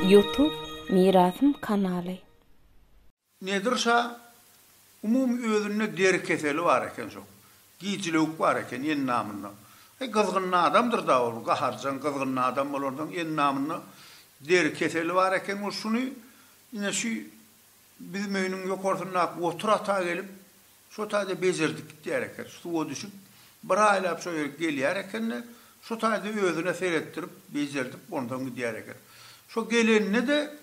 Youtube Mirasym kanaly. Nedir şa, umumy özünde deri keseli bar eken şol. Gijilewük bar eken endamynda. Heý gyzgyn adamdyr da ol, gaharjaň gyzgyn adam bolansoň endamynda deri keseli bar eken ol şuny ine şu Biz möýnüň ýokarsyndaky otur ata gelip, şo taýda bejerdik gitýär eken. Suwa düşüp, bir aýlap şo ýere gelýär eken-de, şo taýda özüne seretdirip, bejerdip, onsoň gidýär eken. Şo gelende-de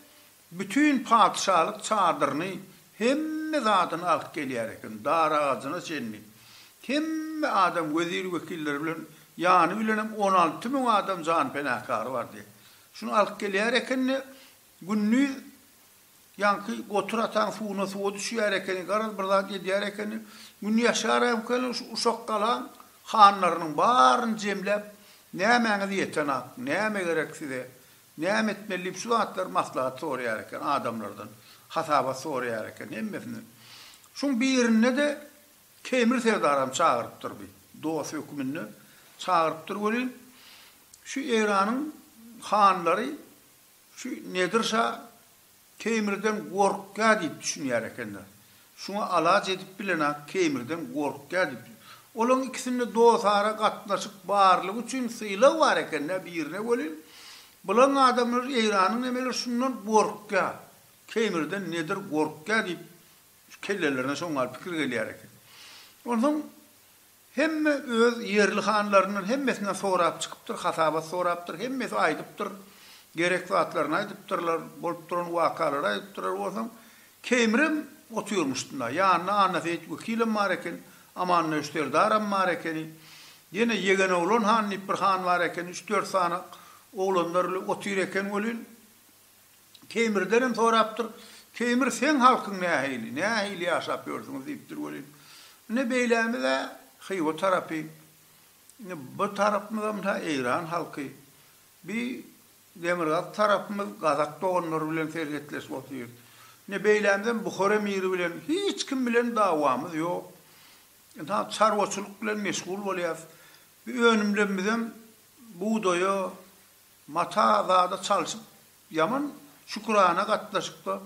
bütin patyşalyk çadyryny, hemme zadyny alyp gelýär eken, dar agajyna çenli. Hemme adam wezir-wekilleri bilen, ýany bilenem on alty müň adam janpenakary bardy. Şuny alyp gelýär eken-de, Gündiz ýaňky gotur ataň suwuna suwa düşýär ekeni, garaz bir zat edýär ekeni. Gün ýaşar ekeni, şu uşak galaň hanlarynyň baryny jemläp, Nämäňiz ýeten ak, näme gerek size, näme etmeli diýip şu zatlary maslahat soraýar eken adamlardan, hasabat soraýar eken hemmesinden. Şuň birinde-de Temir serdaram çagyrypdyr bir dost höküminde çagyrypdyr welin, şu Eýranyň hanlary Şu Nedir şa Keýmirden gorkýar diýip düşünýär ekenler. Şuňa alaç edip bilenok Keýmirden gorkýar diýip. Olaň ikisinde dostara gatnaşyk barlygy üçin sylag bar ekendä birine welin, bulaň adamlar Eýranyň nemeler şundan gorkýar. Keýmirden Nedir gorkýar diýip kellelerine şoňňal pikir gelýär eken. Onsoň Hemme öz ýerli hanlaryndan hemmesinden sorap çykypdyr, hasabat sorapdyr, hemmesi aýdypdyr, gerek zatlaryny aýdypdyrlar, bolup duran wakalary aýdypdyrlar, bolsaň Keýmirem otyrmyşdynda, ýanynda Annaseýit wekilem bar eken, Amanmöwüş serdaram bar ekeni, ýene Ýegenoglan han diýip bir han bar ekeni, üç-dört sany oglanlar bile otyr eken welin, Teýmirden hem sorapdyr. Teýmir seň halkyň nähili, nähili ýaşap ýörsüňiz diýipdir welin. Ine beýlämiz-ä Hywa tarapy. Ine bu tarapymyzam ta Eýran halky. Bi demirgazyk tarapymyz gazak doganlary bilen serhetleşip otyr. Ine beýlämizem Buhar emiri bilen hiç kim bilen dawamyz ýok. Ynha çarwaçylyk bilen meşgul bolýas. Bi önümlerimizem bugdaýa, Mata zada çalşyp ýaman şükürana gatnaşykda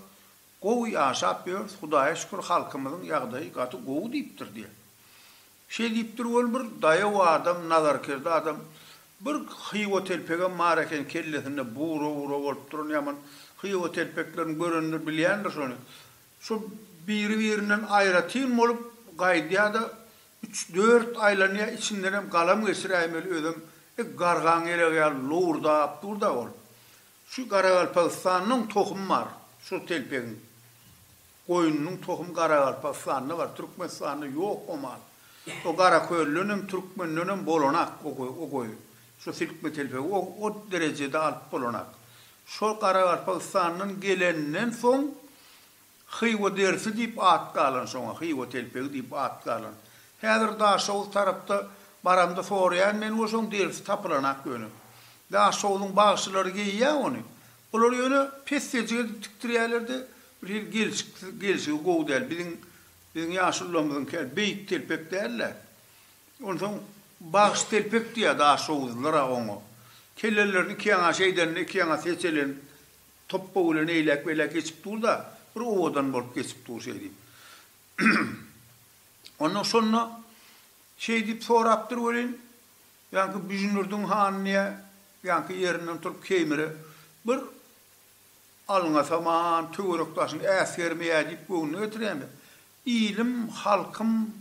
gowy ýaşap ýörüs hudaýa şükür halkymyzyň ýagdaýy gaty gowy diýipdir diýe. Şeý diýipdir ol bir daýaw adam nazarkerde adam bir hywa telpegem bar eken kellesinde bura bura bolup duran ýaman hywa telpeklerini görenler bilýändir şony Şol biri-birinden aýratyn bolup gaýdýa-da, üç-dört aýlanýa, içindenem galam geçiräýmeli özem, e, gargaň elegi ýaly lowurdap dur-da ol. Şu Garagalpagystandan tohum bar, şol telpegiň. Goýnunyň tohumy Garagalpagystanda bar, Türkmenistanda ýok o mal. O Garaköldenem, Türkmendenem bolanak o goý, o goýun. Şu silkme telpegi o, o derejede alyp bolanak. Şol Garagalpagystandan gelenden soň Hywa derisi diýip at galan şoňa, Hywa telpegi diýip at galan. Häzir Daşoguz tarapda baramda soraýan men we şoň derisi tapylanak ýöne. Daşoguzyň bagşylary geýýä ony. Olar ýöne pessejik edip tikdirýälerde bir hili gelşiksiz, gelşigi gowy däl. Biziň, biziň ýaşulularymyzyňky ýaly beýik telpek däl-de. Onsoň bagş telpek diýýä daşoguzlylar-a oňa. Kellelerini ikiýaňaşa edende ikiýaňasy heçelenip Topbag bilen eýläk-beýläk geçip dur-da, bir owadan bolup geçip dur şeýdip. Ondan şonda şeýdip sorapdyr welin, ýaňky Büjnürdiň hany diýýä, ýaňky ýerinden turup Keýmire bir alňasaman, töwerek-daşyň äsgermeýä diýip göwnüne getirýän-de, Ilim, halkym,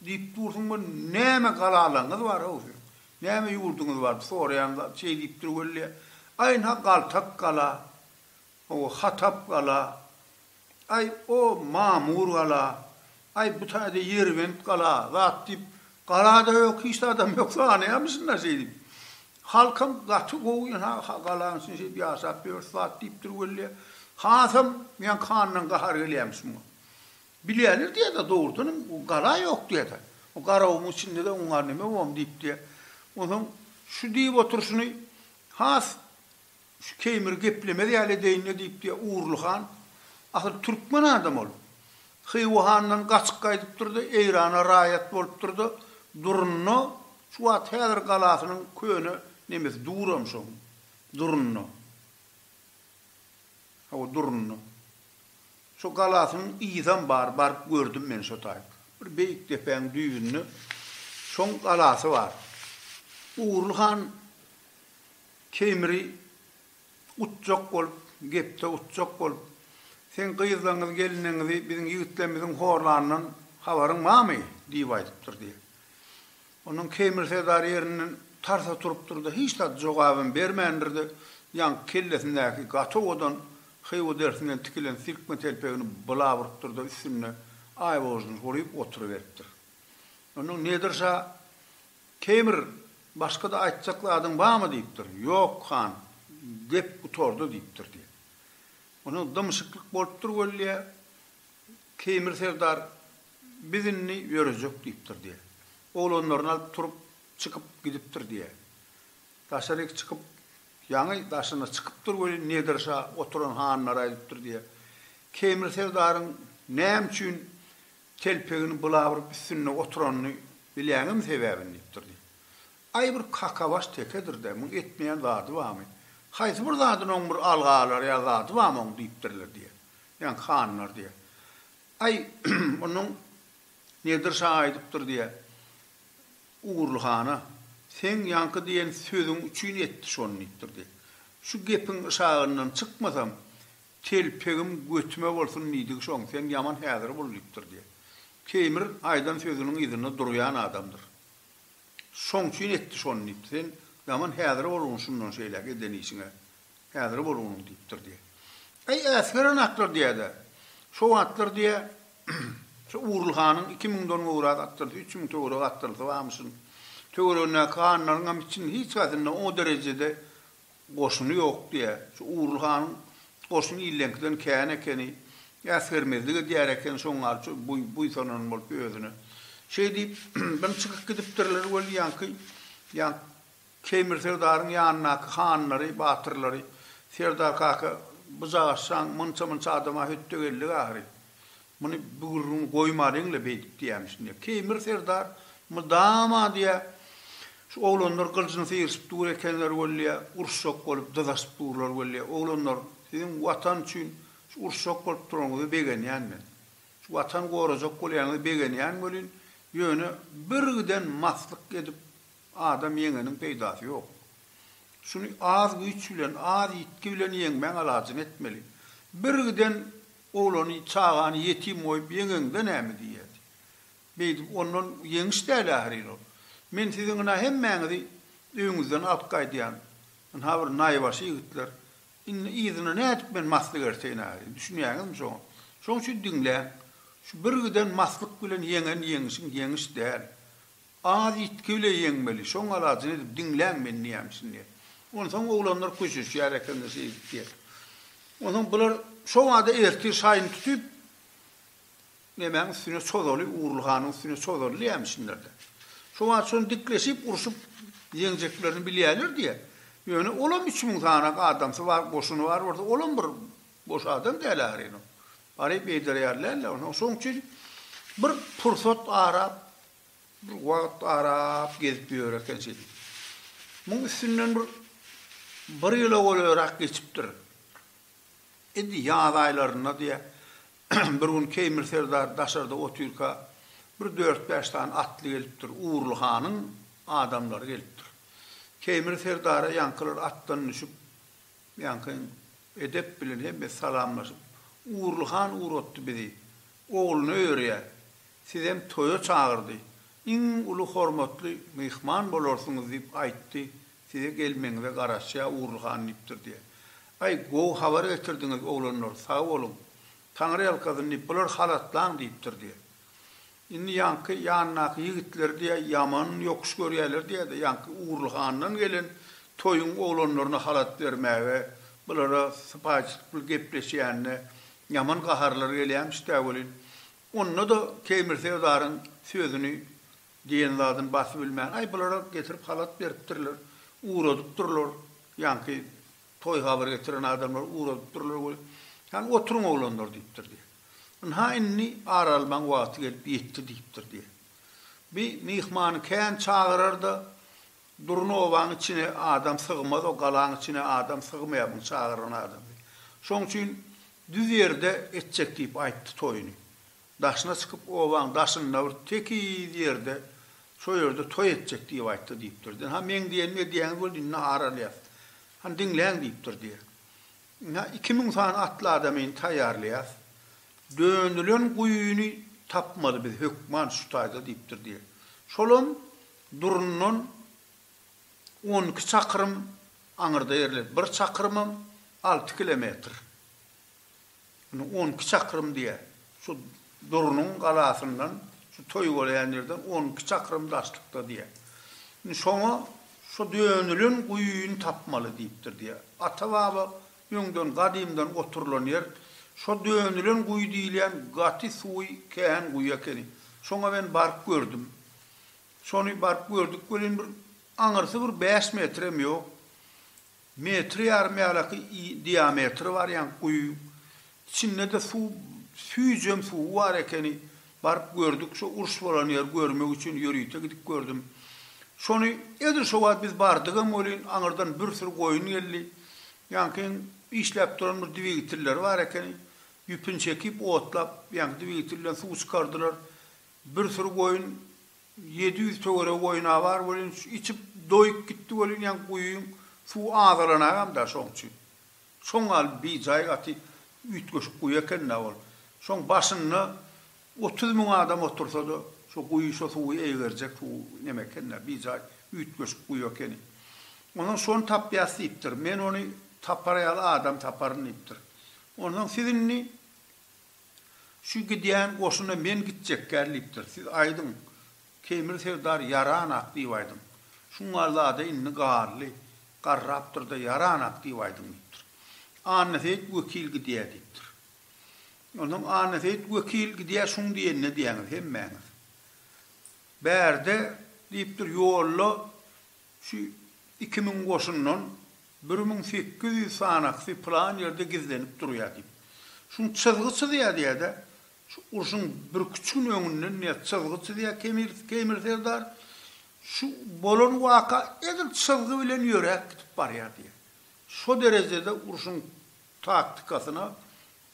Diýip dursuň bir näme galalaňyz bar how siziň? Näme ýurduňyz bar soraýan zat şeý diýip dur weli. Aýn ha galtak gala, ow hatap gala, aý o mamur gala, aý bu taýda ýerbent gala zat diýip galada ýok hiç zadam ýok sanaýamy şunda şeý diýip. Halkam gaty gowy ýa ha ha galaň içinde şeýdip ýaşap ýörüs zat diýip dur weli. Hasam men kandan gahar gelýämiş muňa. Bilýärler diýýär-de, dogrudanam gala ýok diýýär-de. O garabamyň içinde-de oňa neme bom diýip diýýär. Onsoň şu diýip oturyşyny has şu Keýmiri geplemez ýaly edeýin-le diýip diýýär Urly han. Asyl türkmen adam ol. Hywa handan gaçyp gaýdypdyr-da, Eýrana raýat bolupdyr-da, durunda, şu wagt häzir galasynyň köne nemesi duram şoň durunda. Hawa, durundy. Şo galasynyň yzam bar, baryp gördüm men şo taýyp. Bir beýik depäň düýbünde şoň galasy bar. Ugurly han Keýmiri utjak bolup, gepde utjak bolup, Seň gyzlaňňyzy, gelinleňňizi biziň ýigitlerimiziň horlanyndan habaryň barmy? diýip aýdypdyr diýýär. Ondan Keýmir serdar ýerinden tarsa turupdyr-da, hiç zat jogabam bermändir-de, ýaňky kellesindäki gaty owadan hywa derisinden tikilen sirkme telpegini bula urupdyr-da, üstünde aýbožuny guryp oturyberipdir. Ondan Nedir şa, Keýmir, başga-da aýtjak zadyň barmy? diýipdir. Ýok, han, gep gutardy, diýipdir diýen. Ondan dymyşyklyk bolupdyr weli, Keýmir serdar Biz indi ýörejek diýipdir diýýär. Oglanlaryny alyp turup, çykyp gidipdir diýýär. Daşaryk çykyp, ýaňy daşyna çykypdyr welin Nedir şa oturan hanlara aýdypdyr diýýär. Keýmir serdaryň näme üçin telpegini bulabyryp üstünde oturanyny bilýäňmi sebäbini diýipdir diýýär. Aý bir kakabaş tekedir-dä, muň etmeýän zady barmy? Haýsy bir zadyny oň bir alga alar ýaly zady barmy oň diýipdirler diýýär. Ýaňky hanlar diýýär. Aý, onuň Nedir şa aýdypdyr diýä, Ugurly hana, Seň ýaňky diýen sözüň üçin etdi şony diýipdir diýä. Şu gepiň yşagyndan çykmasam, telpegim götüme bolsun diýdigi şoň, sen ýaman häzir bul diýipdir diýä. Keýmir aýdan sözüniň yzynda durýan adamdyr. Şoň üçin etdi şony diýipdir. Sen ýaman häzir bolgun şundan şeýläk eden işiňe Häzir bol onuň, diýipdir, diýýä. Äý, äsgeren atlar, diýýär-de, şo atlar, diýýär, şu Urul hanyň iki müňden gowrak atdyrysy, üç müň töweregi atdyrysy barmyşyn. Töweregindäki hanlaryňam içinde hiç haýsynda o derejede goşuny ýok, diýýär. Şu Urul hanyň goşuny illeňkiden kän ekeni. Äsgermezlik edýär eken, şoň gal şu buýsanan bolup özüne. Şeý diýip, bir çykyp gidipdirler weli ýaňky, ýa, Keýmir serdaryň ýanyndaky hanlary, batyrlary, Serdar kaka, bujagaşjaň, munça-munça adama hötde geldik ahyry. Muny bu gürrüňi goýmalyň-la beýdip diýýämiş indi. Keýmir serdar mydama diýýä, Şu oglanlar gylyjyny syryşyp dur ekenler weli, uruşjak bolup dyzaşyp durlar weli. Oglanlar, siziň Watan üçin şu uruşjak bolup duranyňyza begenýän men. Şu Watan gorajak bolýanyňyza begenýän welin, ýöne birgiden maslyk edip Adam ýeňeniň peýdasy ýok. Şuny az güýç bilen, az ýitgi bilen ýeňmäň alajyny etmeli. Birgiden oglany, çagany ýetim goýup ýeňeňde näme diýýär? Beýdip ondan ýeňiş däl ährin ol. Men siziň ynha hemmäňizi öýüňizden alyp gaýdýan. Ynha bir naýbaşy ýigitler. Indi yzyna nädip men maslyk erteýin ährin? Düşünýäňizmi şoňa? Şoň üçin diňläň. Şu birgiden maslyk bilen ýeňen ýeňişiň ýeňiş däl. Az ýitgi bile ýeňmeli. Şoň alajyny edip, diňläň men nämişin diýýär. Onsoň oglanlar köşeşýär ekeniler şeýdip diýýär. Onsoň bular şobada ertir şaýyny tutup, nemäň üstüne çozaly, Ugrulhanyň üstüne çozaly nämişindir-de. Şobada şony dikleşip, urşup ýeňjeklerini bilýärler diýýär. Ýöne olam üç müň sany adamsy bar, goşuny bar bolsa, olam bir boş adam däl ahyryn ol. Baryp eýdereýärler-le. Onsoň şoň üçin bir pursat arap, Bir wagt arap gezip ýör eken şeýdip. Muň üstünden bir bir ýyla golaýrak geçipdir. Indi ýaz aýlarynda diýýär, bir gün Keýmir serdar daşarda otyrka, bir dört-bäş sany atly gelipdir. Urly hanyň adamlary gelipdir. Keýmir serdara ýaňkylar atdan düşüp, Ýaňky edep bilen hemme salamlaşyp, Ugurly han ugratdy bizi. Ogluna öýerýär. Sizem toýa çagyrdy. Iň uly hormatly myhman bolarsyňyz diýip aýtdy, size gelmegiňize garaşýar Ugurly han diýipdir diýýär. Aý, gowy habar getirdiňiz, oglanlar, sag boluň. Taňryýalkasyn diýip, bular halatlaň diýipdir diýýär. Indi ýaňky ýanyndaky ýigitler diýä, ýaman ýokuş görýärler diýýä-de, ýaňky Ugurly handan gelen toýuň oglanlaryna halat bermäge bulara sypaýyçylyk bilen gepleşýänine ýaman gaharlary gelýämiş-dä welin, onda-da Keýmir serdaryň sözüni, diýen zadyny basybilmän, Aý, bular-a getirip halat beripdirler, ugradypdyrlar ýaňky Toý habar getiren adamlar ugradyp durlar we Ýan, oturyň oglanlar diýipdir diýýär. Ynha indi ar almaň wagty gelip ýetdi diýipdir diýýär. Bi myhmany kän çagyrar-da, Durna obaň içine adam sygmaz, o galaň içine adam sygmaýar muny çagyran adam diýip. Şoň üçin düz ýerde etjek diýip aýtdy toýuny. Daşyna çykyp, obaň daşynda bir tekiz ýerde, şo ýerde toý etjek diýip aýtdy diýipdir diýen. Ha, meň diýenimi edýäňiz boldy, indi ar alýas. Hany diňläň diýipdir diýen. Ine, iki müň sany atly adamy indi taýýarlaýas. Dönülen guýyny tapmaly biz, hökman şu taýda diýipdir diýen. Şolam Durundan on iki çakyrym aňyrda ýerleşen. Bir çakyrymam alty kilometr. Indi on iki çakrym diýýär. Şu Durnuň galasyndan, şu toý bolýan ýerden on iki çakrym daşlykda diýýär. Indi şoňa şu dönülen guýyny tapmaly diýipdir diýýär. Ata-baba öňden gadymdan oturylan ýer şo dönülen guýy diýilýän gaty suwy kän guýy ekeni. Şoňa men baryp gördüm. Şony baryp gördük welin bir aňyrsy bir bäş metrem ýok. Metr ýarym ýalyky diametri barýan guýy. Içinde-de suw, süýjem suwy bar ekeni. Baryp gördük, şo uruş bolan ýeri görmek üçin ýörite gidip gördüm. Şony edil şo wagt biz bardygam welin, aňyrdan bir süri goýun geldi. Ýaňkyň işläp duran bir dwigitelleri bar ekeni. Ýüpüni çekip, otlap, ýaňky dwigitel bilen suw çykardylar. Bir süri goýun Ýedi ýüz töweregi goýuna bar welin, şu içip doýup gitdi welin, ýaňy guýyň suwy azalanagam-da şoň üçin. Şoň gal bijaý gaty üýtgeşik guýy eken-dä ol. Şoň başynda otuz müň adam otursa-da, şo guýy şo suwy eýgerjek suw neme eken-dä, bijaý üýtgeşik guýy ekeni. Onsoň şony tapýas diýipdir. Men ony tapar ýaly adam taparyn diýipdir. Onsoň siz indi Şu gidýän goşuna men gitjekgär diýipdir. Siz aýdyň, Keýmir serdar ýaran-ak diýip aýdyň. Şuň galla-da indi gally, garrapdyr-da ýaran-ak diýip aýdyň diýipdir. Annaseýit wekil gidýär diýipdir. Onsoň Annaseýit wekil gidýär şuň diýenine diýýäňiz hemmäňiz. Bärde, diýipdir, ýolda Şu iki müň goşundan bir müň sekiz ýüz sanaksy pylan ýerde gizlenip durýar diýip, şum çyzgy çyzýar diýär-de, şu urşuň birküç gün öňünden diýär çyzgy çyzýar Kemir, Keýmir serdar, şu bolan waka edil çyzgy bilen ýöräp gidip barýar diýär. Şo derejede urşuň taktikasyna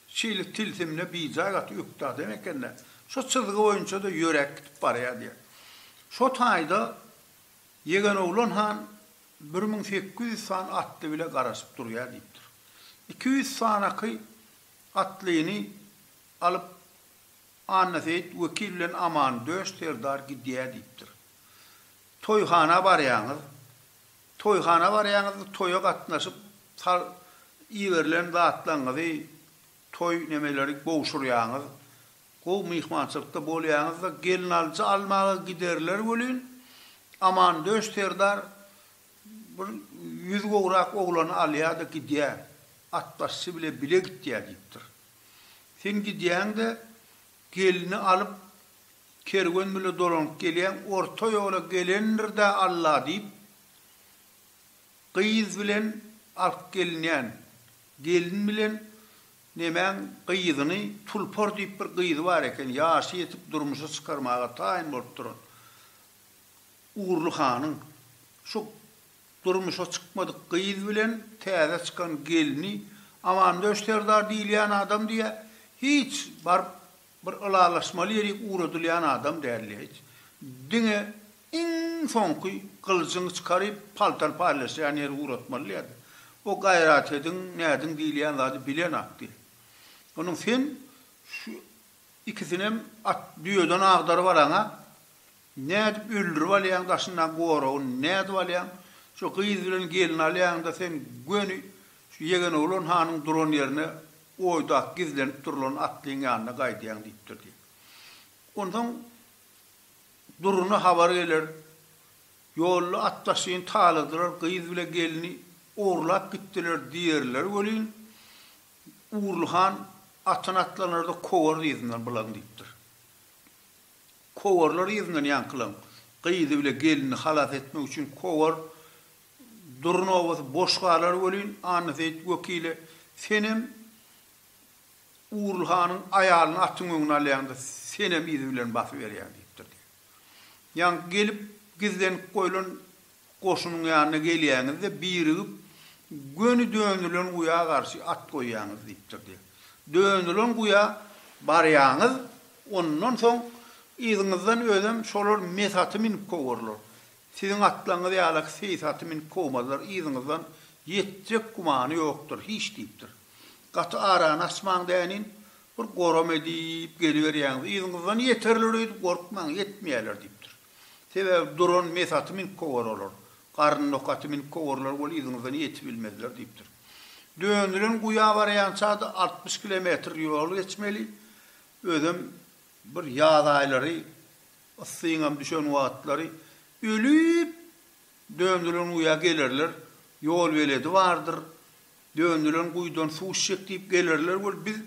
şeýle tilsimine bijaý gaty ökde adam eken-de, şo çyzgy boýunça-da ýöräp gidip barýar diýär. Şo taýda Ýegenoglan han bir müň sekiz ýüz san atly bile garaşyp durýar diýipdir. Iki ýüz sanaky atlyny alyp Annaseýit wekil bilen Amandöş serdar gidýär diýipdir. Toýhana barýaňyz. Toýhana barýaňyz-da toýa gatnaşyp sal iberilen zatlaryňyzy, toý nemeleri gowşurýaňyz. Gowy myhmançylykda bolýaňyzda gelnalyjy almaga giderler welin, Amandöş serdar bir ýüz gowrak oglany alýa-da gidýä, atbaşçy bile bile gitýä diýipdir. Sen gidýäň-de, gelni alyp, kerwen bile dolanyp gelýäň, orta ýola gelendir-dä Alla diýip, gyz bilen alyp gelinýän gelin bilen Nemäň gyzyny Tulpar diýip bir gyzy bar eken, ýaşy ýetip durmuşa çykarmaga taýyn bolup duran. Ugurly hanyň şu durmuşa çykmadyk gyz bilen täze çykan gelni Amandöş serdar diýilýän adam diýýär, hiç baryp Bir ylalaşmaly ýerik ugradylýan adam däldi hiç. Diňe iň soňky gylyjyňy çykaryp, paltar paýlaşýan ýeri ugratmaly ýa-da. O Gaýratediň, Näziň diýilýän zady bilen atdy. Onuň sen şu ikisinem at, düýeden agdaryp alaň-a. Nädip öldürip alýaň daşyndaky goragy, nädip alýaň? Şu gyz bilen gelni alýaň-da sen göni şu ýegen oglan hanyň duran ýerine Oýdak gizlenip durlan atlyň ýanyna gaýdýaň diýipdir diýip. Onsoň Duruna habar geler. Ýolda at daşyn taladylar, gyz bile gelni ogurlap gitdiler diýerler welin, Ugurly han atyny atlanarda kowarys yzyndan bulaň diýipdir. Kowarlar yzyndan ýaňkylaň. Gyzy bile gelnini halas etmek üçin kowar Dur nobaty boş galar welin, Annaseýit wekile, senem Ugrul hanyň aýalyny atyň öňüne alýaň-da, senem yzy bilen basyberýäň diýipdir diýýär. Ýaňky gelip, gizlenip goýlan goşunyň ýanyna gelýäňiz-de, birigip, göni dönülen guýa garşy at goýýaňyz diýipdir diýýär. Dönülen guýa barýaňyz, ondan soň yzyňyzdan özem şolar mes aty münüp kowurlar. Siziň atlaryňyz ýalak seýis aty minip kowmazlar, yzyňyzdan ýetjek gümany ýokdur, hiç diýipdir. Gaty arany açmaň dänin, bir goram edip geliberýäňiz, yzyňyzdan ýeterler öýdüp gorkmaň, ýetmeýärler diýipdir. Sebäbi duran mes aty minip kowar olar, garny dok aty minip kowurlar weli yzyňyzdan ýetibilmezler diýipdir. Dönülen guýa barýança-da altmyş kilometr ýol geçmeli, özem bir ýaz aýlary. Yssyňam düşen wagtlary ölüp, döndülen guýa gelerler, ýol beledi bardyr, döndülen guýudan suw içjek diýip gelerler bolup, biz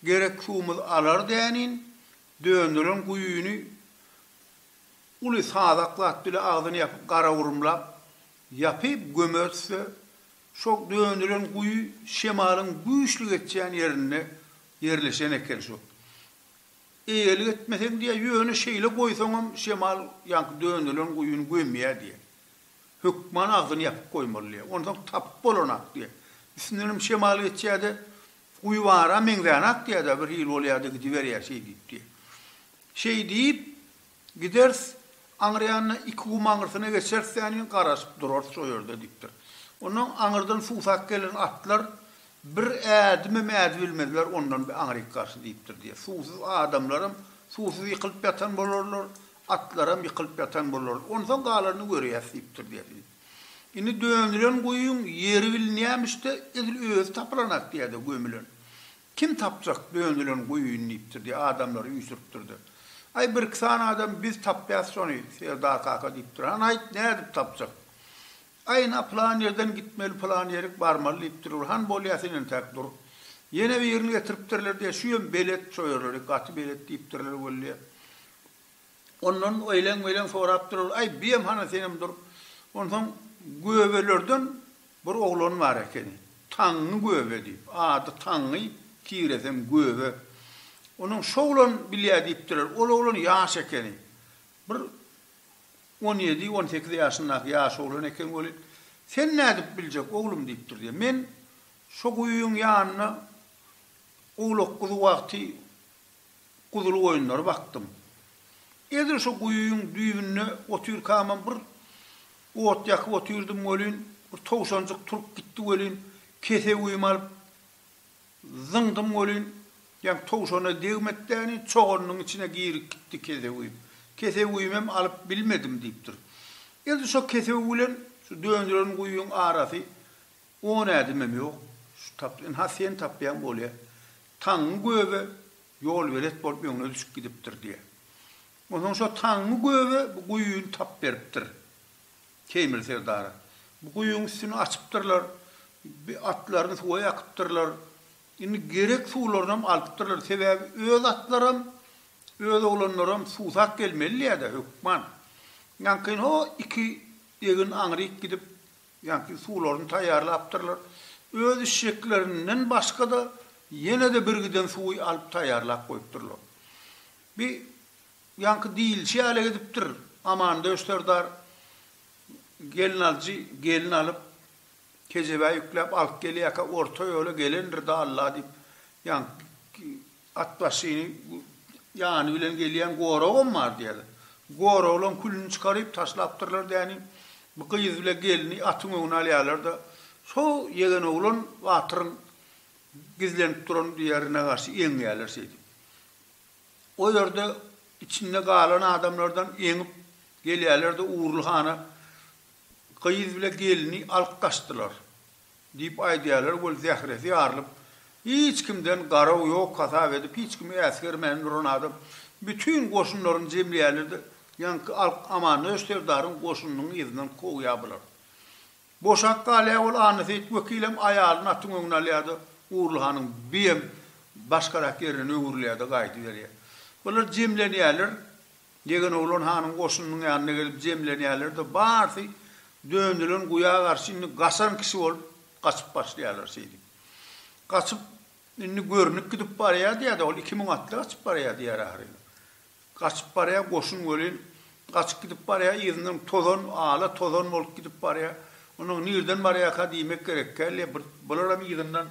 gerek suwumyz alar dänin, döndülen guýyny uly sazak zat bile agzyny ýapyp, garagurumlap, ýapyp gömeris-de, şo döndülen guýy şemalyň güýçli geçýän ýerinde ýerleşen eken, şo Eýelik etmeseň diýýär, ýöne şeýle goýsaňam şemal ýaňky dönelen guýyny gömýär diýýär. Hökman agzyny ýapyp goýmaly diýýär. Onsoň tapyp bolanak diýýär. Üstündenem şemal geçýär-de, Guýy bara meňzänak diýýär-de, birhili bolýar-da gidiberýär şeý diýip diýýär. Şeý diýip, Gideris, aňryýanyna iki gum aňyrsyna geçeris däniň, garaşyp durarys o ýerde, diýipdir. Ondan aňyrdan suwsap gelen atlar bir ädimem ädi bilmezler ondan bi aňryk garşy diýipdir diýýär. Suwsuz adamlaram suwsuz ýykylyp ýatan bolarlar, atlaram ýykylyp ýatan bolarlar. Onsoň galaryny görýäs diýipdir diýýär. Indi dönülen guýyň ýeri bilinýämiş-de, edil özi tapylanak diýýär-de gömülen. Kim tapjak dönülen guýyny diýipdir diýip, adamlary üýşüripdir-de. Aý, birki sany adam biz tapýas şony, Serdar kaka diýipdir. Hany aýt, nädip tapjak? Aý, ynha, pylan ýerden gitmeli, pylan ýerik barmaly diýipdir. Bir han bolýa, sen entäk dur. Ýene birini getiripdirler diýýä, şüýem belet, çoýarlary gaty belet diýipdirler weli. Ondan öýlen-beýlen sorap durar, Aý, biem hana senem dur. Onsoň göbelerden bir oglan bar ekeni. Taňňy göbe diýip, ady Taňňy, tiresem göbe. Onuň şu oglan bilýär diýipdiler. Ol oglan ýaş ekeni. Bir on ýedi, on sekiz ýaşyndaky ýaş oglan ekeni weli. Sen nädip biljek, oglum diýipdir diýýär. Men şo guýyň ýanynda owlak-guzy wagty guzulgoýunlary bakdym. Edil şu guýyň düýbünde otyrkamam bir ot ýakyp otyrdym welin, bir towşanjyk turup gitdi welin, kesewimi alyp zyňdym welin, ýaňky towşana degmekdäni çoganynyň içine girip gitdi kesewim. Kesewimem alyp bilmedim diýipdir. Edil şo kesew bilen şu döndüren guýyň arasy On ädimem ýok, şu tap, ynha sen tapýaň bolýa. Taňňy göbe ýolberet bolup öňüne düşüp gidipdir diýýä. Onsoň şo Taňňy göbe bu guýyny tap beripdir Teýmir serdara. Bu guýyň üstüni açypdyrlar, bi atlaryny suwa ýakypdyrlar. Indi gerek suwlarynam alypdyrlar, sebäbi öz atlaram, öz oglanlaram suwsap gelmeli-dä hökman. Ýaňkyn ho iki egin aňryk gidip, Ýaňky suwlaryny taýýarlapdyrlar. Öz işjeklerinden başga-da ýene-de birgiden suwy alyp taýýarlap goýupdyrlar. Bi ýaňky diýilişi ýaly edipdir. Amandöş serdar gelin alyjy gelin alyp, kejebä ýükläp alyp gelýärkä, orta ýola gelendir-dä Alla diýip, ýaňky Atbaşyny ýany bilen gelýän goragam bar diýýärler. Goraglaň külüni çykaryp taşlapdyrlar däni. Bu gyz bile gelni atyň öňüne alýarlar-da, Şo ýegen oglan batyryň gizlenip duran ýerine garşy eňýärler şeýdip. O ýerde içinde galan adamlardan eňip gelýärler-de Ugurly hana gyz bile gelni alyp gaçdylar. Diýip aýdýarlar weli zähresi ýarylyp, hiç kimden garaw ýok hasap edip, hiç kimi äsgermän duran adam bütin goşunlaryny jemleýärler-de, ýaňky Alp Amandöş serdaryň goşunynyň yzyndan kowýar bular. Boşap galýar weli Annaseýit wekilem aýalyny atyň öňüne alýar-da, Gurly hanyň biem başgarak ýerinden öwrülýär-de gaýdyberýär. Bular jemlenýärler, Degen oglan hanyň goşunynyň ýanyna gelip jemlenýärler-de, barsy dönülen guýa garşy indi gaçan kişi bolup gaçyp başlaýarlar şeýdip. Gaçyp, indi görnük gidip barýa diýýä-de, ol iki müň atly gaçyp barýa diýýär ahyryn. Gaçyp barýa goşun welin, gaçyp gidip barýa, yzyndan tozan, ala tozan bolup gidip barýa. Onuň nirden barýaka diýmek gerekkä, le, bir, bularam yzyndan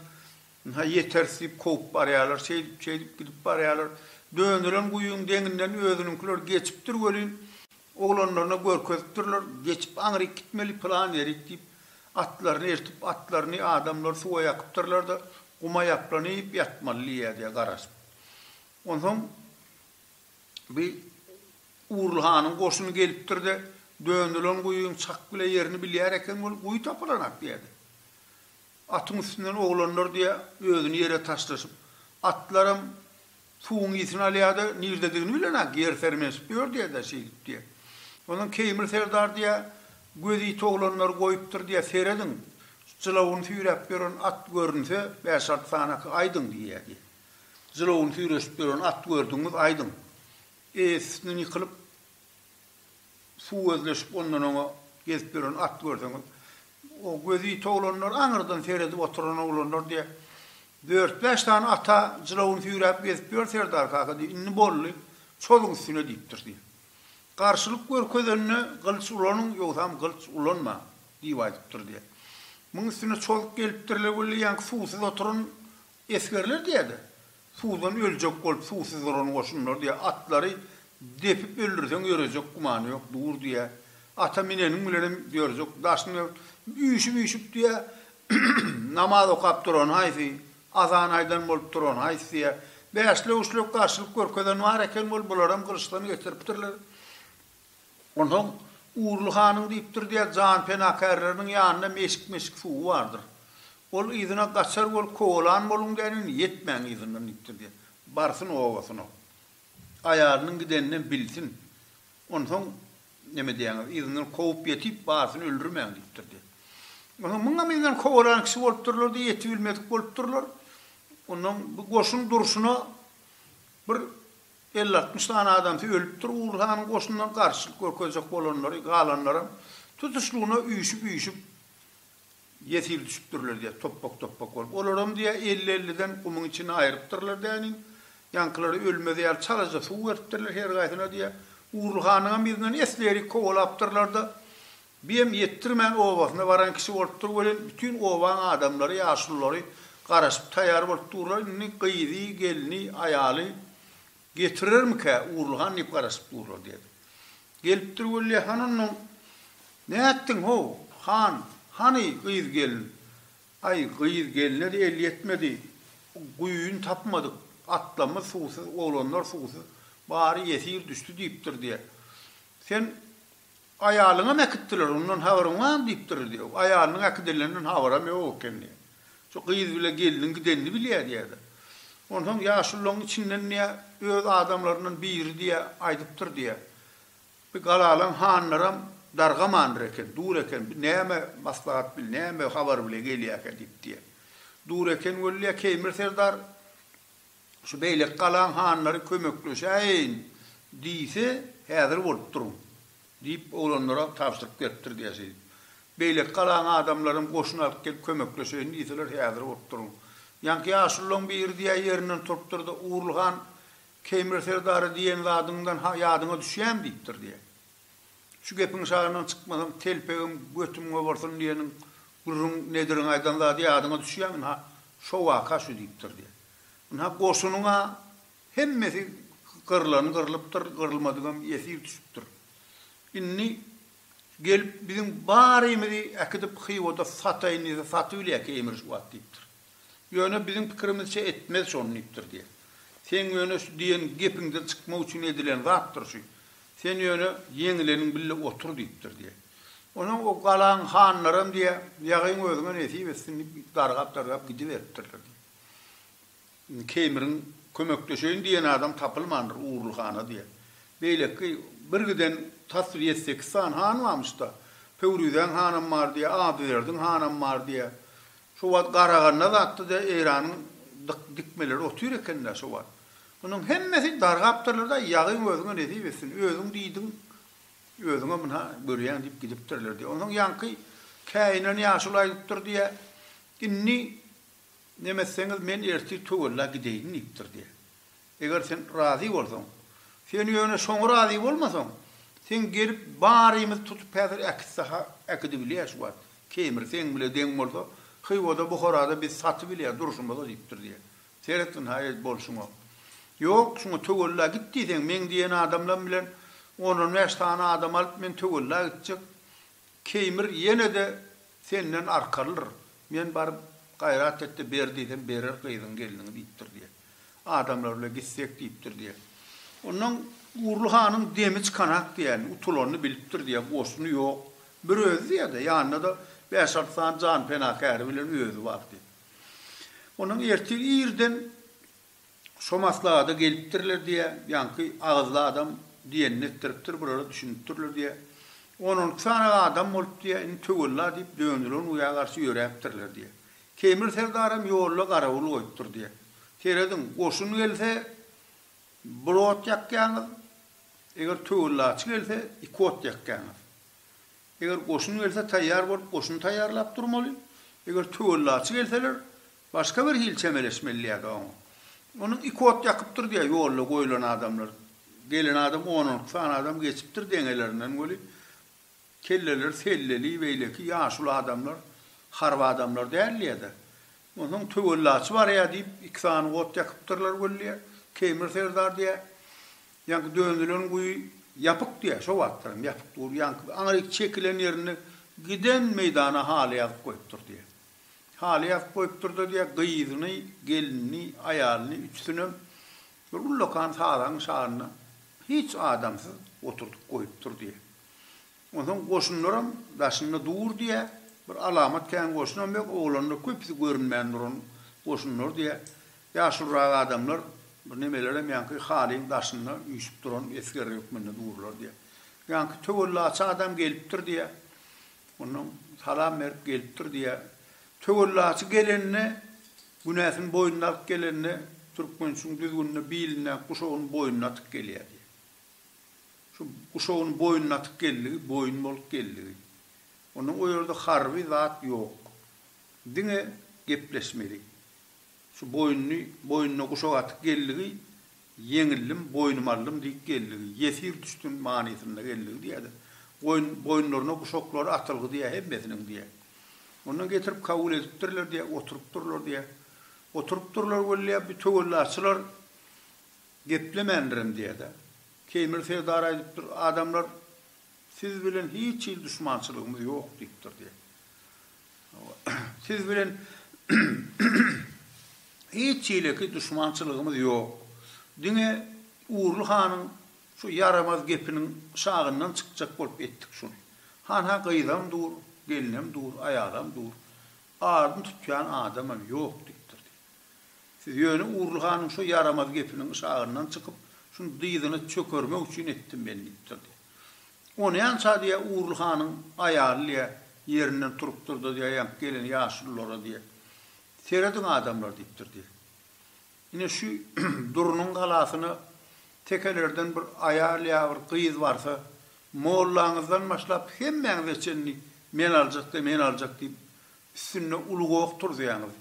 Ynha, ýeteris diýip kowup barýarlar, şeýdip, şeýdip gidip barýarlar. Dönelen guýyň deňinden özüniňkiler geçipdir welin, oglanlaryna görkezipdirler, geçip aňryk gitmeli, pylan ýerik diýip, atlaryny eltip, atlaryny adamlar suwa ýakypdyrlar-da, guma ýaplanyp ýatmaly diýýär-de garaşyp. Onsoň bi Urly hanyň goşuny gelipdir-de, dönelen guýyň çak bile ýerini bilýär eken weli, guýy tapylanak diýýär-de. Atyň üstünden oglanlar diýýä, özüni ýere taşlaşyp. Atlaram suwuň ysyn alýa-da, nirdedigini bilenok, ýer sermesip ýör diýýä-dä, şeýdip diýýä. Ondan Keýmir serdar diýýä, Göz ýiti oglanlary goýupdyr diýýä, serediň, jylawyny süýräp ýören at görünse, bäş-alty sanaky aýdyň diýýä diýýä. Jylawyny süýreşip ýören at gördüňiz, aýdyň. Eýesi üstünden ýykylyp. suw özleşip ondan oňa gezip ýören at görseňiz o gözi ýiti oglanlar aňyrdan seredip oturan oglanlar diýe dört bäş sany ata jylawyny süýräp gezip ýör Serdar kaka diýe indi boldy çozuň üstüne diýipdir diýe garşylyk görkezende gylyç ulanyň ýogsam gylyç ulanma diýip aýdypdyr diýe muň üstüne çozuk gelipdirle weli ýaňky suwsuz oturan esgerler diýede Suwdan öljek bolup suwsuz duran goşunlar diýýär, atlary depip öldürseň ýörejek gümany ýok, dur diýýär. Ata mineniň bilenem ýörjek, daşyny ört. Üýşüp-üýşüp diýýär, Namaz okap duran haýsy, azan aýdan bolup duran haýsy diýýär. Bäşlek-üçlek garşylyk görkezen bar eken bolup, bularam gylyçdan geçiripdirler. Onsoň Urly hanyň diýipdir diýýär, janpenakärleriniň ýanynda meşik-meşik suwy bardyr. Ol yzyna gaçar bolup kowalan boluň däneýin, ýetmäň yzyndan diýipdir diýýär. Barsyn obasyna. Aýalynyň gidenini bilsin. Onsoň, neme diýýäňiz, yzyndan kowup ýetip, barsyn öldürmäň diýipdir diýýär. Onsoň muňam yzyndan kowalan kişi bolupdyrlar-da, ýetibilmedik bolupdyrlar. Onsoň bu goşun durşuna bir Elli-altmyş sany adamsy ölüpdir, Ugur hanyň goşunyndan garşylyk görkezjek bolanlary, galanlaram tutuşlygyna üýşüp-üýşüp ýesir düşüpdirler diýýär, topbak-topbak bolup. Olaram diýýär, elli-elliden gumuň içini aýrypdyrlar däniň, ýaňkylara ölmez ýaly çalaja suw beripdirler her gaýsyna diýýär. Ugur hanyňam yzyndan esli-erik kowalapdyrlar-da, Biem ýetdirmän obasyna baran kişi bolupdyr welin bütin obaň adamlary ýaşululary garaşyp taýýar bolup durlar indi gyzy gelni aýaly getirermikä Urulhan diýip garaşyp durlar diýen. Gelipdir wellä han onnoň Nätdiň how han hany gyz gelin Aý gyz gelnedi el ýetmedi guýyny tapmadyk atlamyz suwsuz oglanlar suwsuz bary ýesir düşdi diýipdir diýen. Sen Aýalyňam äkitdiler, ondan habaryň barmy? diýipdir, diýýär. Aýalynyň äkidileninden habaram ýok eken, diýýär. Şu gyz bile gelniň gidenini bilýär, diýýär-de. Onsoň ýaşulularyň içinden, diýýär, öz adamlaryndan biri, diýýär, aýdypdyr, diýýär. Bi galalaň hanlaram dargamandyr eken, dur eken, bi näme maslahat bil, näme habar bile gelýärkä diýip, diýýär. Dur eken weli, diýýär, Keýmir serdar Şu beýleki galaň hanlary kömekleşäýeýin diýse, häzir bolup duruň, diýip, oglanlara tabşyryk beripdir diýäsedi. Beýleki galaň adamlaram goşun alyp gelip kömekleşeýin diýseler, häzir bolup duruň. Ýaňky ýaşululaň biri diýýär, ýerinden turupdyr-da, Urul han Keýmir serdary diýen zadyňdan-ha ýadyňa düşýämi? diýipdir diýýär. Şu gepiň şagyndan çykmasam, telpegim, götüm gobarsyn diýeniň, gürrüň Nediriň aýdan zady ýadyňa düşýärmi? Ynha, şo waka şu diýipdir diýen. Ynha, goşunyň-a hemmesi gyrlan gyrlypdyr, gyrylmadygam ýesir düşüpdir. Indi gelip, biziň barymyzy äkidip Hywada sataýyn diýse, satybilýä keýmir şu wagt diýipdir. Ýöne biziň pikirimizçe etmez şony diýipdir diýýär. Seň ýöne şu diýen gepiňden çykmak üçin edilen zatdyr şu. Sen ýöne ýeňileniň bille otur diýipdir diýýär. Onsoň o galaň hanlaram diýýär, Ýagyň özüňe nesip etsin diýip dargap-dargap gidiberipdirler diýýär. Indi Keýmiriň kömekleşeýin diýen adam tapylmandyr Ugurly hana diýýär. Beýleki bir giden tas bir ýedi-sekiz sany han barmyş-da. Pöwrizäň hanam bar diýýär, Adyberdiň hanam bar diýýär. Şo wagt garaganda zatda-da Eýranyň dykmeleri otyr eken-dä şo wagt. Munuň hemmesi dargapdyrlar-da, Ýagyň özüňe nesip etsin, özüň diýdiň, özüňe muna görýäň diýip gidipdirler diýýär. Onsoň ýaňky käýinen ýaşuly aýdypdyr diýýär, Indi nemetseňiz men ertir töwella gideýin diýipdir diýýär. Eger sen razy bolsaň. Sen ýöne şoňa razy bolmasaň, seň gelip barymyzy tutup häzir äkitsaha äkidibilýär şu wagt. Kemir seň bile deň bolsa, Hywada, Buharada biz satybilýär durşumyza diýipdir diýýär. Seret ynha ez bolşuňa. Ýok, şuňa töwella git diýseň, meň diýen adamlam bilen on-on bäş sany adam alyp men töwella gitjek. Keýmir ýene-de senden arkalydyr, men baryp, gaýrat et-de ber diýsem, berer gyzyň gelniňi diýipdir diýe. Adamlar bile gitsek diýipdir diýe. Ondan Gurly hanyň demi çykanak diýen, utulanyny bilipdir diýe, goşuny ýok, bir özi diýe-de, ýanynda-da bäş-alty sany janpenakäri bilen özi bar diýe. Ondan ertir irden Şo maslahada gelipdirler diýä, ýaňky agyzly adam diýenini etdiripdir, bulara düşünipdirler diýä. On-onki sany adam bolup diýä, indi töwella diýip, dönülen guýa garşy ýöräpdirler diýä. Keýmir serdaram ýolda garawul goýupdyr diýä. Serediň, goşun gelse, bir ot ýakýaňyz, eger töwellaçy gelse, iki ot ýakýaňyz. Eger goşun gelse, taýýar bolup, goşun taýýarlap durmaly. Eger töwellaçy gelseler, Başga bir hili çemeleşmeli diýýärdi oňa. Onuň iki ot ýakypdyr diýýär ýolda goýlan adamlar. Gelen adam on-on iki sany adam geçipdir deňelerinden weli, kelleleri selleli, beýleki ýaşuly adamlar, harby adamlar däl diýýär-de. Onsoň töwellaçy barýar diýip, iki sany ot ýakypdyrlar weli diýýär. Keýmir serdar diýýär, Ýaňky dönülen guýy ýapyk diýýär, şo wagtlaram ýapyk dur, ýaňky aňryk çekilen ýerinde giden meýdana haly ýazyp goýupdyr diýýär. Haly ýazyp goýupdyr-da diýýär, gyzyny, gelinini, aýalyny, üçüsinem bir ullakan sazaň şagyna hiç adamsyz oturdyp goýupdyr diýýär. Onsoň goşunlaram daşynda dur diýýär, bir alamat kän goşunam ýok, oglanlar köpüsi görünmän duran goşunlar diýýär. Ýaşulyrak adamlar, bir nemelerem ýaňky halyň daşynda üýşüp duran esger hökmünde durlar diýýär. Ýaňky töwellaçy adam gelipdir diýýär. Ondan salam berip gelipdir diýýär. Töwellaçy gelende, günäsini boýnuna alyp gelende, türkmençiň düzgünine bilindäki guşagyny boýnuna atyp gelýär diýýär. Şu guşagyny boýnuna atyp geldigi, boýun bolup geldigi. Ondan o ýerde harby zat ýok. Diňe gepleşmeli. Şu boýnuny boýnuna guşak atyp geldigi, ýeňildim, boýnumy aldym diýip geldigi, ýesir düşdüm manysynda geldigi diýýärdi. Goýun boýunlaryna guşaklary atylgy diýýär hemmesiniň diýýär. Ondan getirip kabul edipdirler diýýär, oturypdyrlar diýýär. Oturypdyrlar weli bu töwellaçylar geplemändirem diýýär-de. Keýmir serdar aýdypdyr, Adamlar, siz bilen hiç hili duşmançylygymyz ýok diýipdir diýýär. Siz bilen hiç hileki duşmançylygymyz ýok. Diňe Urly hanyň şu ýaramaz gepiniň şagyndan çykjak bolup etdik şuny. Han-a gyzam dur, gelnem dur, aýalam dur. Adyny tutýan adamam ýok, diýipdir diýip. Siz ýöne Urly hanyň şu ýaramaz gepiniň şagyndan çykyp, şuny dyzyna çökermek üçin etdim men, diýipdir diýip. Onýança diýýä, Urly hanyň aýaly diýýä, ýerinden turupdyr-da diýýä, ýaňky gelen ýaşululara diýýä, Serediň adamlar diýipdir diýýä. Ine şu Durnyň galasyna tekelerden bir aýal ýa bir gyz barsa, mollaňyzdan başlap hemmäňize çenli men aljak-da, men aljak diýip, üstünde uly goh turuzýaňyz.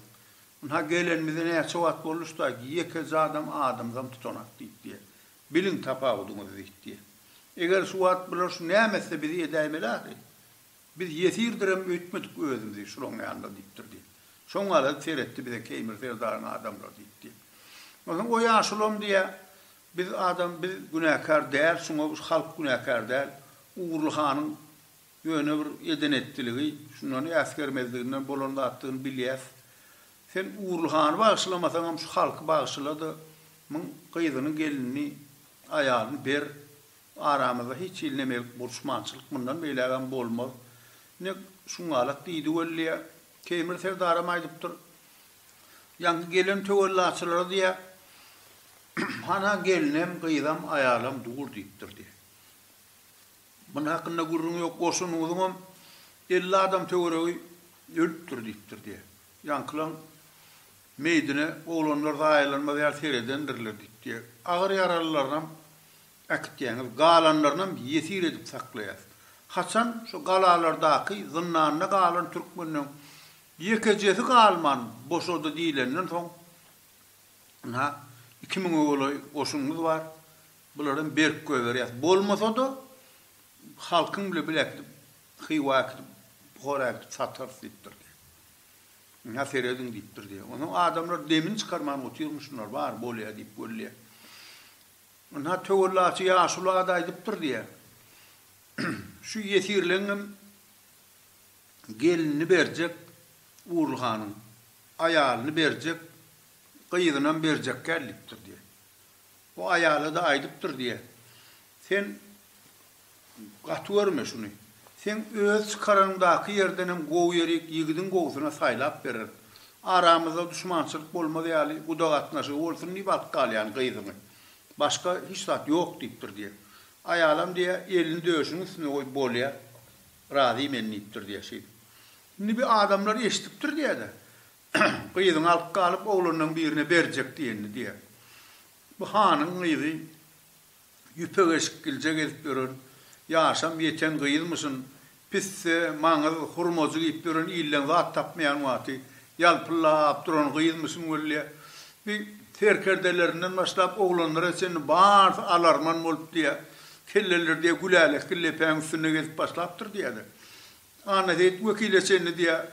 Ynha, gelenimize näçe wagt boldy şu taýky, ýekeje adam adamzam tutanak diýip diýýä. Biliň tapawudyňyzy diýdi. Eger şu wagt bular şu näme etse bizi edäýmeli ahy. Biz ýesirdirem öýtmedik özümizi şulaň ýanynda diýipdir diýdi. Şoň galady seretdi bize Keýmir serdaryň adamlary diýdi. Onsoň o ýaşulam diýä biz adam biz günäkär däl şuňa halk günäkär däl Ugurly hanyň Ýöne bir eden-etdiligi şundan äsgermezliginden bolan zatdygyny bilýäs. Sen Ugurly hany bagyşlamasaňam şu halky bagyşla-da, muň gyzyny, gelinini, aýalyny ber. Aramyzda hiç hili nemelik buruşmançylyk mundan beýlägem bolmaz. Ine, şuňňalak diýdi weliýa. Keýmir serdaram aýdypdyr. Ýaňky gelen töwellaçylara diýýär, Hana gelinem, gyzam, aýalam dur diýipdir diýýär. Muny hakynda gürrüň ýok, goşunyňyzyňam elli adam töweregi ölüpdir diýipdir diýýär. Ýaňkylaň meýdine oglanlar zaýalanmaz ýaly seredendirler diýip diýýär. Agyr ýaralylaryňam äkitýäňiz, galanlarynam ýesir edip saklaýas. Haçan şu galalardaky zyndanda galan türkmenden ýekejesi galman boşady diýlenden soň, ynha, iki müňe golaý goşunyňyz bar, Bularam berk goýberýäs. Bolmasa-da, halkyň bile bile äkidip, Hywa äkidip, Buhara äkidip satarys diýipdir diýýär. Ynha, serediň diýipdir diýýär. Onsoň adamlar demini çykarman otyrmy şunlar, bar, bolýa diýip wellýär. Ynha, töwellaçy ýaşuly ada aýdypdyr diýýär. Şu ýesirleňňem gelinini berjek, Urly hanyň aýalyny berjek, gyzynam berjekgäl diýipdir diýýär. Bu aýala-da aýdypdyr diýýä. Sen gaty görme şuny. Seň öz çykaranyňdaky ýerden hem gowy ýerik ýigidiň gowusyna saýlap bereris. Aramyzda duşmançylyk bolmaz ýaly guda gatnaşygy bolsun diýip alyp galýan gyzyňy. Başga hiç zat ýok diýipdir diýýä. Aýalam diýýä, elini döşüň üstüne goýup bolýa, razy men diýipdir diýýä şeýdip. Indi bi adamlar eşidipdir diýýä-de, Gyzyňy alyp galyp, oglanlaň birine berjek diýenini diýer. Bu hanyň gyzy ýüpek eşikgilje gezip ýören, ýaşam ýeten gyzmyşyn, pisse, maňyz, hurmajy giýip ýören ilden zat tapmaýan wagty ýalpyllap duran gyzmyşyn weli. Bi serkerdelerinden başlap oglanlara çenli barsy alarman bolup diýä, kelleleri diýä gülälekgil lepäň üstünde gezip başlapdyr diýä-de. Annaseýit wekile çenli diýýär,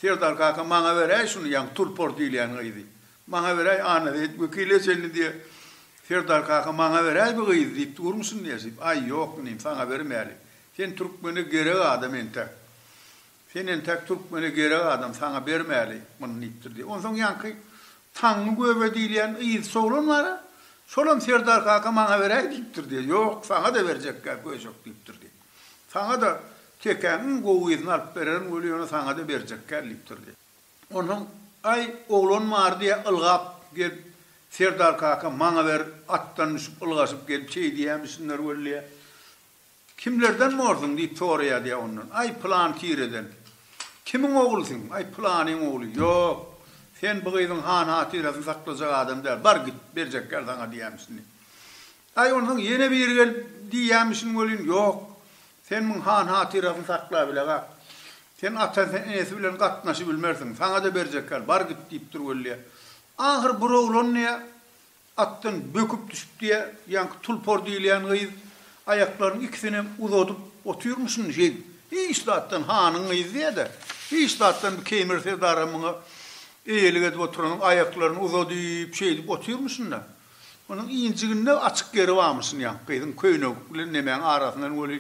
Serdar kaka, maňa beräý şuny, ýagny Tulpar diýilýän gyzy. Maňa beräý, Annaseýit wekile çenli diýýär, Serdar kaka, maňa beräý bu gyzy diýip durmuşyn nesip. Aý, ýok, inim, saňa bermäli. Sen türkmene gerek adam entek. Sen entek türkmene gerek adam, saňa bermäli muny diýipdir diýýär. Onsoň ýaňky Taňňy göbe diýilýän yzçy oglan bar-a, şolam Serdar kaka, maňa beräý diýipdir diýýär. Ýok, saňa-da berjekkä köýjek diýipdir diýýär. Saňa-da Kekäňiň gowy gyzyny alyp bererin weli ýöne saňa-da berjek kän diýipdir diýýär. Onsoň, Aý, oglan bar diýýär, ylgap gelip, Serdar kaka, maňa ber, atdan düşüp, ylgaşyp gelip şeý diýýämişsinler weli diýýär. Kimlerden borsuň? diýip soraýar diýýär ondan. Aý, pylan tireden. Kimiň oglusyň? Aý, pylanyň ogly. Ýok, sen bu gyzyň han-hatyrasyny saklajak adam däl. Bar git, berjekler saňa diýýämişsin diýip. Aý, onsoň ýene biri gelip diýýämişin welin, ýok. Sen muň han-hatyrasyny sakla bile-gä. Sen atasy, enesi bilen gatnaşybilmersiň. Saňa-da berjekgär. Bar git diýip dur welli-ä. Ahyr bir oglan diýýä, atdan böküp düşüp diýýä, ýaňky Tulpar diýilýän gyz aýaklarynyň ikisinem uzadyp otyrmyşyn şeý. Hiç zatdan, hanyň gyzy diýýä-de, hiç zatdan bu Keýmir serdaram muňa eýelik edip oturanok, aýaklaryny uzadyp, şeýdip otyrmyşyn-da. Onuň injiginde açyk ýeri barmyşyn ýa, gyzyň köýnegi bilen nemäň arasyndan weli,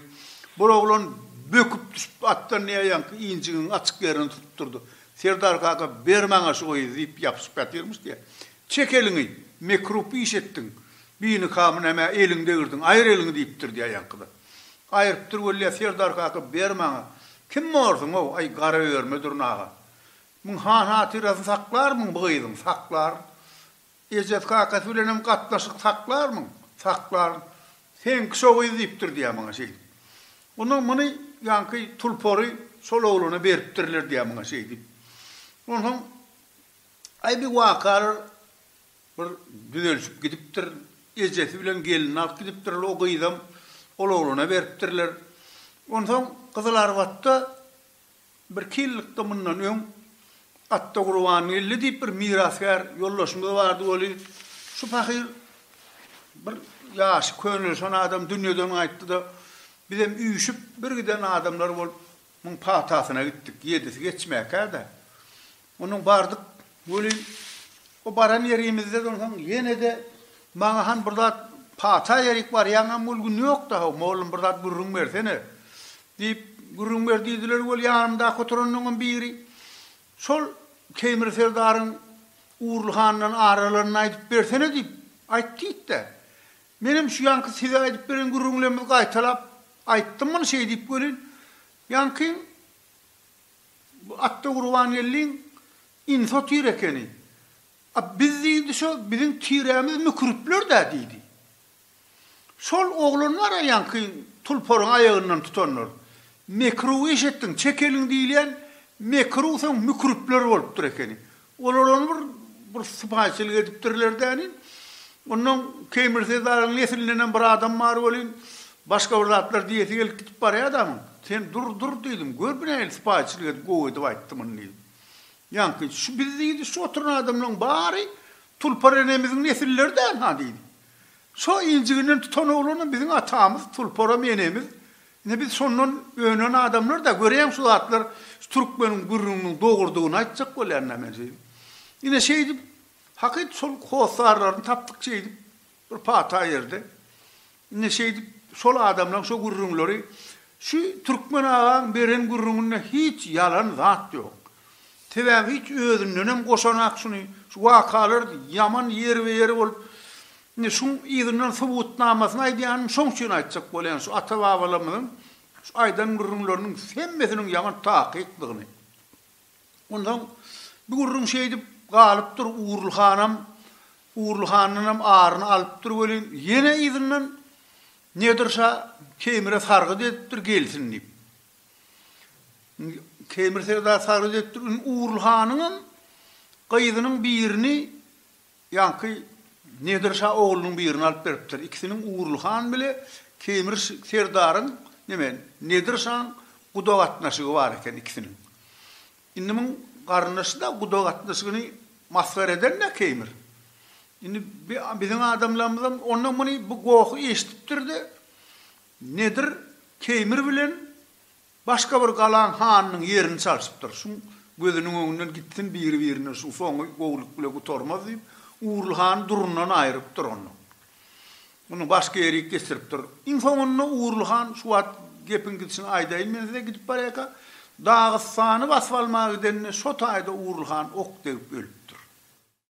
bir oglan böküp düşüp atdan ýa ýaňky injigiň açyk ýerini tutup durdy. Serdar kaka, Ber maňa şu gyzy diýip ýapyşyp ýatyrmyş diýä. Çek eliňi, mekrup iş etdiň, binikamy nämä eliňi degirdiň, aýyr eliňi diýipdir diýä ýaňky-da. Aýyrypdyr weli ýa Serdar kaka, Ber maňa, kim borsuň-ow, aý, Garaöýerme durnaga. Muň han-hatyrasyny saklarmyň bu gyzyň, saklaryn. Ejesi-kakasy bilenem gatnaşyk saklarmyň? Saklaryn. Seňki şo gyz diýipdir diýýär maňa şeýdip. Ondan muny ýaňky tulpary şol oglana beripdirler diýýär maňa şeýdip. Onsoň aý bir wakalar bir düzelşip gidipdir. Ejesi bilen gelini alyp gidipdirler. O gyzam ol oglana beripdirler. Onsoň Gyzylarbatda Birki ýyllykda mundan öň Atdagurbangeldi diýip bir mirasgär ýoldaşymyz bardy weli, şu pahyr bir ýaşy könelişen adam dünýeden gaýtdy-da, bizem üýşüp bir giden adamlar bolup muň patasyna gitdik, ýedisi geçmäkä-dä. Ondan bardyk welin, o baran ýerimizde onsoň ýene-de maňa han bir zat pata ýerik barýaňam ol gün ýokda-haw, mollum bir zat gürrüň bersene! diýip, gürrüň ber diýdiler weli ýanymdaky oturanlaňam biri şol Teýmir serdaryň Urly handan aralanyny aýdyp bersene diýip, aýt diýdi-de. Menem şu ýaňky size aýdyp beren gürrüňlerimizi gaýtalap aýtdym muny şeýdip welin, ýaňky Bu atda Gurbangeldiň info tire ekeni. A biz diýdi şo biziň tirämiz müküripler-dä diýdi. Şol oglan bar-a ýaňky tulparyň aýagyndan tutanlar. Mekruw iş etdiň, çek eliň diýilýän mekruw soň müküripler bolupdyr ekeni. Olar ony bir bir sypaýyçylyk edipdirler dälin. Ondan Keý Mirsezaryň neslindenem bir adam bar welin, başga bir zatlar diýesi gelip gidip barýa adamyň. Sen dur, dur diýdim. Gör bu nähili sypaýyçylyk edip gowy edip aýtdy muny diýdim. Ýaňky şu biz diýdi, şu oturan adamlaryň bary Tulpar enemiziň nesilleri dälha diýdi. Şo injiginden tutan oglanam biziň atamyz, Tulparam enemiz Indi biz şondan önen adamlar-da, göreýin şu zatlar şu türkmeniň gürrüňiniň dogrudygyny aýtjak bolýan-da men size. Ine şeýdip, hakyt şol hossarlaryny tapdyk şeýdip bir pata ýerde. Ine şeýdip, şol adamlaň şo gürrüňleri, şu türkmen agaň beren gürrüňinde hiç ýalan zat ýok. Sebäbi hiç özündenem goşanak şuny, şu wakalar ýaman ýerbe-ýer bolup, Indi şuň yzyndan subutnamasyny aýdýanym şoň üçin aýtjak bolýan şu ata-babalarymyzyň şu aýdan gürrüňleriniň hemmesiniň ýaňy takykdygyny. Onsoň bu gürrüň şeýdip galypdyr, Ugurly hanam Ugurly handanam aryny alypdyr welin, ýene yzyndan Nedir şa Keýmire sargyt edipdir, gelsin diýip. Indi Keýmir serdar sargyt edipdir, indi Ugurly hanyňam gyzynyň birini Ýaňky Nedir şa oglunyň birini alyp beripdir. Ikisiniň Ugurly han bile Keýmir serdaryň, neme, Nedir şaň guda gatnaşygy bar eken ikisiniň. Indi muň garyndaşy-da guda gatnaşygyny masgar eden-dä Keýmir. Indi bi biziň adamlarymyzam onda muny bu gohy eşidipdir-de, Nedir Keýmir bilen Başga bir galaň hanynyň ýerini çalşypdyr. Şuň gözüniň öňünden gitsin biri-birine şuň soňy gowulyk bile gutarmaz diýip, Ugrul hany durundan aýrypdyr ondan. Muny başga ýerik geçiripdir. Iň soňunda Ugrul han şu wagt gepiň gidişini aýdaýyn men size gidip barýaka, Dagystany basyp almaga gidende şo taýda Ugrul han ok degip ölüpdir.